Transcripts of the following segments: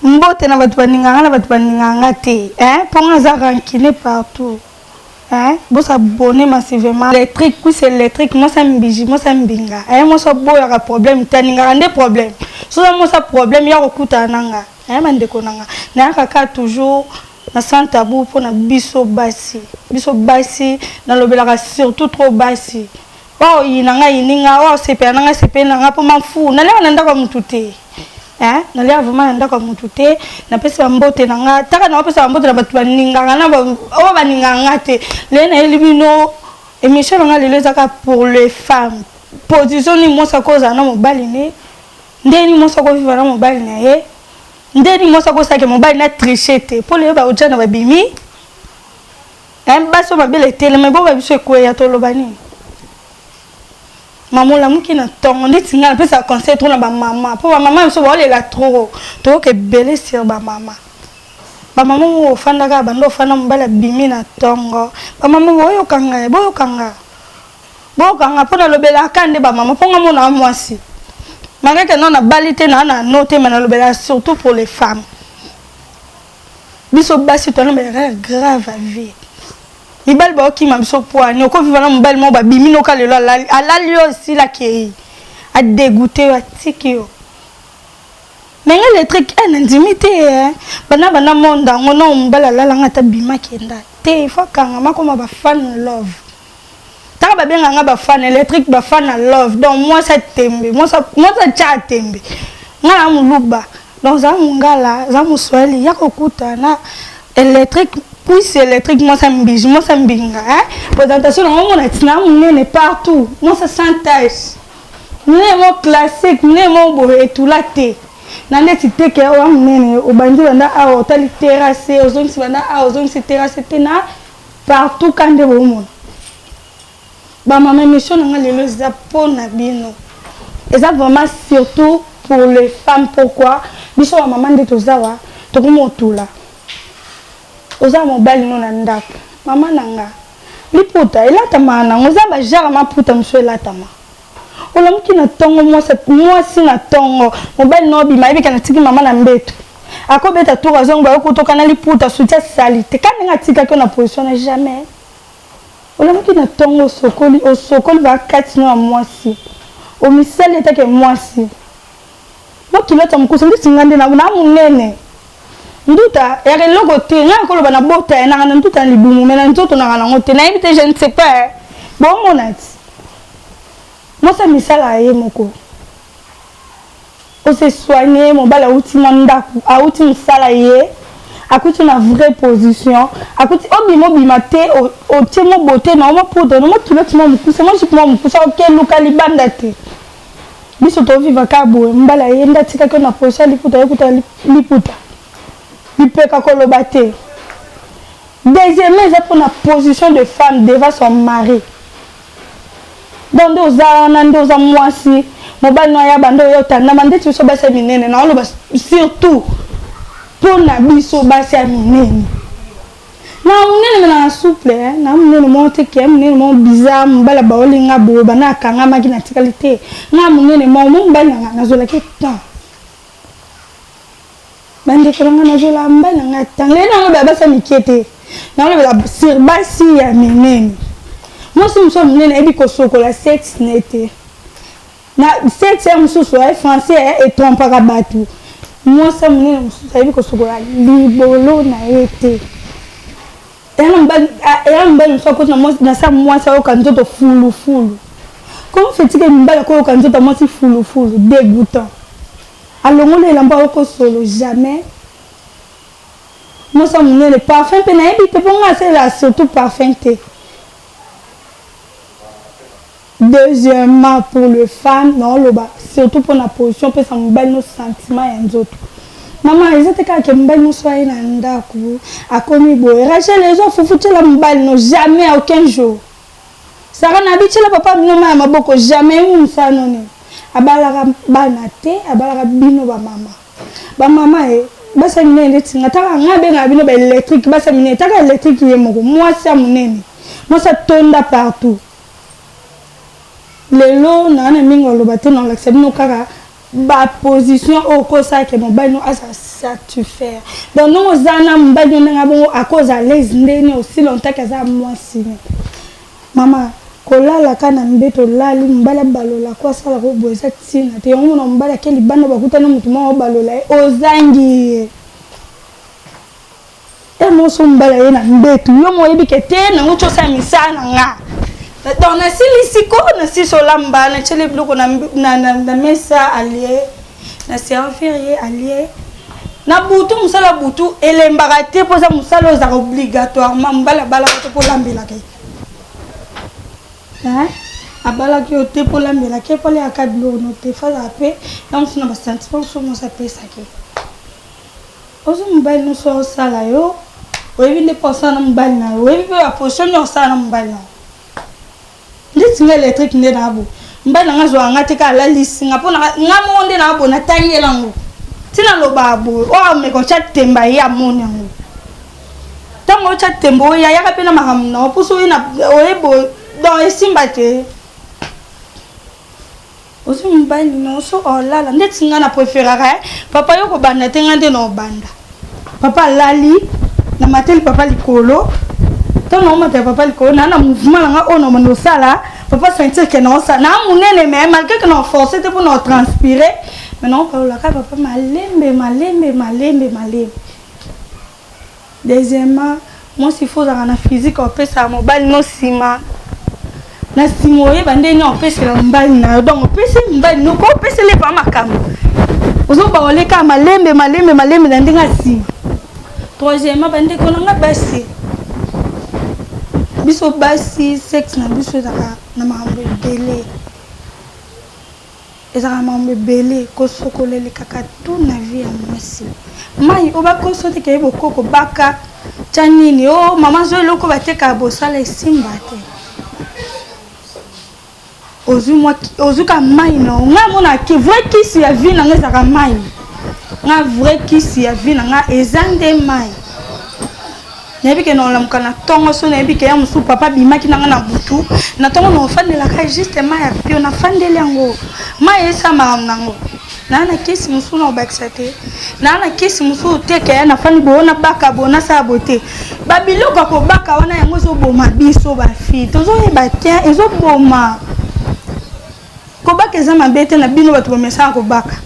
Mbote na bato baninga nga na bato baninga nga te eh po nga za rancune partout eh bosa bonne massivement électrique puis électrique moi ça mbiji moi ça mbinga eh moi ça boya ka problème taninga nde problème so ça moi ça problème ya kokuta nanga eh bandeko nanga na kaka toujours na sans tabou pona biso basi biso basi na lobelaka surtout trop basi Wao yi na nga yini nga wao sepela na nga sepela na nga po ma fou na leo na ndako mutu te hein na leo vraiment na ndako mutu te na pesi ba mbote na nga taka na pesa ba mbote na batu ba ninga nga na ba o ba ninga nga te le na yeli bino émission na nga lelo ezaka pour les femmes position ni mosa ko za na mobali ne ndeni mosa ko viva na mobali na ye ndeni mosa ko sake mobali na tricher te po le ba oja na ba bimi Hein, basi oyo mabele etelema ebongo biso ekweya toloba nini mama olamuki na ntongo ndeti ngai napesaka conseil trop na bamama mpo bamama biso baolela trop toyoka ebele sur bamama bamama oyo ofandaka banda ofanda mobali abimi na ntongo bamama boyoka ngai boyoka ngai boyoka ngai mpo nalobelaka nde bamama mpo ngai monaa mwasi malgreke nao nabali te naa na no te ma nalobelaka surtout pour les femmes biso basi to na ba grave à vie mibali ba okima biso poani oko viva na mobali mo babimi noka lelo alali alali yo sila kei a dégoûter yo atiki yo mais nga le truc eh nandimi te hein bana bana monde yango na mobali alalanga ata bima kenda te il faut kanga makoma ba fan love Taka ba benga nga ba fan électrique ba fan na love donc moi ça tembe moi ça moi ça cha tembe nga na muluba donc za mungala za muswahili ya kokuta na électrique puce électrique moi ça mbiji moi ça mbinga hein présentation na ngo na tina munene partout moi ça sans tache munene mo classique munene mo bo etula te na neti teke oya munene obandi banda awa otali terrasse ozongisi banda awa ozongisi terrasse te na Partout ka nde bomona ba mama emission na nga lelo eza po na bino eza vraiment surtout pour les femmes pourquoi biso ba mama nde toza wa tokomi otula oza mobali no na ndako mama na nga liputa elatamaka nango eza ba genre maputa mosusu elatama olamuki na tongo mwasi mwasi na tongo mobali na obima yebika na tiki mama na mbeto akobeta tour azongi bayo kutoka na liputa soutien salite ka ndenge atikaki yo na position na jamais olamuki na tongo osokoli osokoli bakati no ya mwasi omisali etake mwasi Ba culotte ya mukuse ndeti nga nde na na munene nduta yaka eloko te nga nakoloba na bota ye nanga na nduta na libumu mais na nzoto nanga nango te nayebi te je ne sais pas eh. bomona ti mwasi ya misala ya ye moko ose soigne mobali awuti mwa ndako awuti mosala ye akuti na vraie position akuti obima obima te otie mo bote na yo mo poudre na mo culotte mo mokuse mo jupe mo mokuse okeluka libanda te Biso to viva ka boye mbala eye nde atikaki yo na position ya liputa yokuta liputa lipeka koloba te deuxièmement eza mpo na position de femme devant son mari donc nde oza wana nde oza mwasi mobali no ayaba nde oya otandama ndeti biso basi ya minene naoloba surtout mpo na biso basi ya minene na munene me na souple eh, na munene moko te ke munene moko bizarre mobali abaoli nga boye banda akangamaki natikali te nga munene moko mo mobali na nga nazwelaki temps bandeko na nga nazwela mobali na nga temps lelo yango baya basa mike te nakolobela sur basi ya minene mwasi mosusu ya monene ayebi kosokola sexe ne te Na CTM mususu eh, français eh, et trompaka batu. Mwasi ya munene mususu ayebi kosokola libolo na ye te. Eya na mobali, eya na mobali mususu akoti na mwasi, na sa mwasi ayoka nzoto fulu fulu. Comment fait-il que mobali akoyoka nzoto ya mwasi fulu fulu, dégoûtant. Alongoli elamba ayoko solo jamais. Mwasi ya munene parfum pe nayebi te po nga asalela surtout parfum te. Deuxièmement pour le femme nao loba surtout pona position pesa mobali no sentiment ya nzoto maman eza te kaka ke mobali muasi oyo aye na ndaku akomi boye Rachel ezua fufu tiela mobali no jamais à aucun jour Sarah nabi tiela papa na bino mayi ya maboko jamais ye mutu musala no nini abalaka bana te abalaka bino ba mama ba mama ye basi ya minene ndeti nga taka nga abengaka bino ba electrique basi ya minene taka electrique ye moko muasi ya munene muasi atonda partout Lelo na na mingi ya loba te na lakisa bino kaka ba position oyo ko sala ke mobali no azala satisfaire donc ndenge oza na mobali no ndenge abongo ako za alaise nde ni aussi longtemps ke aza muasi no mama ko lala ka na mbeto olali mobali abalola ko asala ko boye eza tina te yango mona mobali ake libanda bakutani mutu moko abalola ye ozangi ye Tellement on s'en bat là, ndetu. Yo mo yebi que te na ngo chosa misa na nga. Donc na sili siko na si solamba na chele biloko na na na mesa allié. Na servir ye allié. Na butu musala butu elembaka te poza musala ozaka obligatoirement mbala bala ko ko lambela ke. Hein? abalaki yo te mpo olambela ke mpo aliaka biloko no te fazala mpe na mosu na basentiment mosusu mosi apesaki Ozo mobali nioso azo sala yo oyebi nde po asala na mobali na yo oyebi pe ba position nioso asala na mobali na yo ndeti nga electrique nde na bo mobali na nga azua nga te ka alalisi nga po na nga moko nde na bo na tangi ela ngo ti na loba bo o ameka otia temba ye amoni yango tango otia temba oya yaka pe na makambo na yo po so oye na oye bo donc esimba te Ozo mobali na oso olala ndeti nga na preferaka eh? Papa yo kobanda te nga nde na obanda Papa alali na mateli papa likolo ntango na omata ya papa likolo naa na mouvement na nga oyo na mando osala papa sentir ke na osala naa monene me malgré ke na force te mpo na otranspire me na opalolaka papa malembe malembe malembe malembe Deuxièmement mwasi il faut ozalaka na physique ya kopesaka mobali no nsima na nsima oyeba ndenge nini opesela mobali na yo donc opesi mobali noko opesela epa makambo ozoba oleka malembe malembe malembe na ndenge ya nsima troisièmement bandeko na nga basi biso basi sexe na biso ezalaka na makambo ebele Ezalaka makambo ebele kosokola elekaka tout na vie ya muasi mayi oyo bakosi oyo teke bokoko baka tya nini oh maman zwa eloko batekaka bosala esimba te ozwi mwa ozwi ka mayi na yo ngai amonaka ki vrai kisi ya vie na ngai ezalaka mayi nga vrai kisi ya vie na nga eza nde mayi nayebi ke naolamuka na ntongo so nayebi ke ya mosusu papa abimaki na ngai na butu na ntongo naofandelaka juste mai ya pio nafandeli yango mai eyesa makambo nango naa na kisi mosusu naobakisa te naa na kisi mosusu te ke nafandi boyo nabaka boyo nasala boye te babiloko ya kobaka wana yango ezoboma biso bafille tozoyeba te ezoboma Kobaka eza mabe te na bino bato bamesaka kobaka.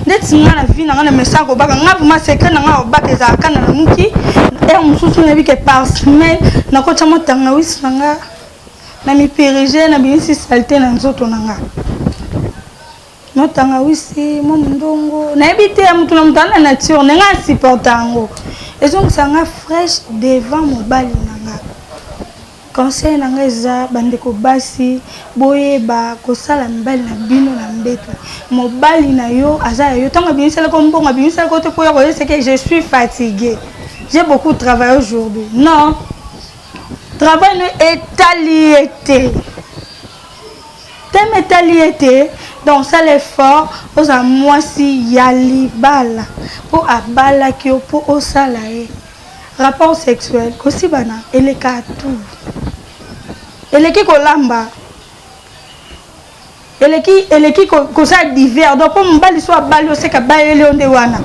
Neti nga na vie na nga na mesaka kobaka. Nga vraiment secret na nga kobaka ezala ka na lamuki. Heure mosusu nayebi ke par semaine nakotya mwa tangawisi na nga na mipirige na bimisi salite na nzoto na nga. Mwa tangawisi, mwa mondongo. Nayebi te ya motu na motu ana nature na nga asupporta yango. Ezongisa nga fraîche devant mobali na nga. Conseil na nga eza bandeko basi boyeba kosala mibali na bino na mbetu mobali na yo aza ya yo ntango abimisali ko mbongo abimisali ko te mpo ya koyeseke je suis fatigue j'ai beaucoup travaille aujourd'hui non travail no etali ye te teme etali ye te donc sala effort ozala mwasi ya libala mpo abalaki yo mpo osala ye Rapport sexuel kosibana eleka tout eleki kolamba eleki eleki kosala divers donc mpo mobali so abali oseka bayeli yo nde wana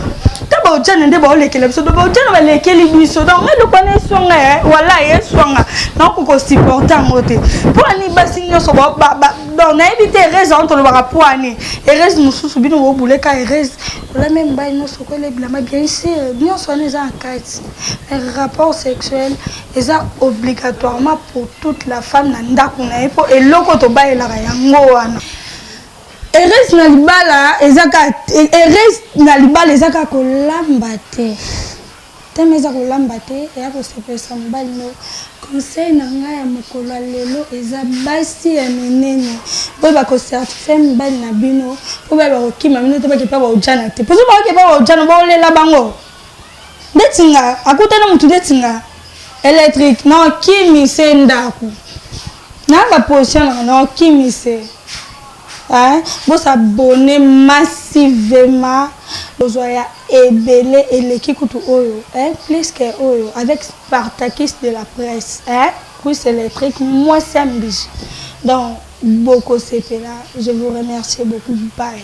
ta baojana nde baolekela biso donc baojana balekeli biso donc ngai eloko wana eswanga ye eh, wala ye eswanga naoko kosupporte yango te mpo ani basi nyonso donc nayebi te erese yango tolobaka mpo ani erese mosusu bino bobuleka erese Problème mibali nionso ko lebilama bien sur nionso wana eza na kati mais rapport sexuel eza obligatoirement pour toute la femme na ndaku na ye po eloko tobalelaka yango wana heureuse na libala eza kaka heureuse na libala eza kaka kolamba te Teme eza kolamba te eya kosepelisa mobali no conseil na nga ya mokolo ya lelo eza basi ya minene boyeba kocertifie mibali na bino po bayeba kokima bino te bakepa baojana te pozo baokepa baojana baolela bango ndeti nga akutana motu ndeti nga électrique na okimi se ndako na baposition na nga na okimi se Hein bo s'abonner massivement bozua ya ebele eleki kutu oyo hein plus que oyo avec spartakis de la presse hein Chris electric mwasi ya mbizi donc boko sepela je vous remercie beaucoup bye.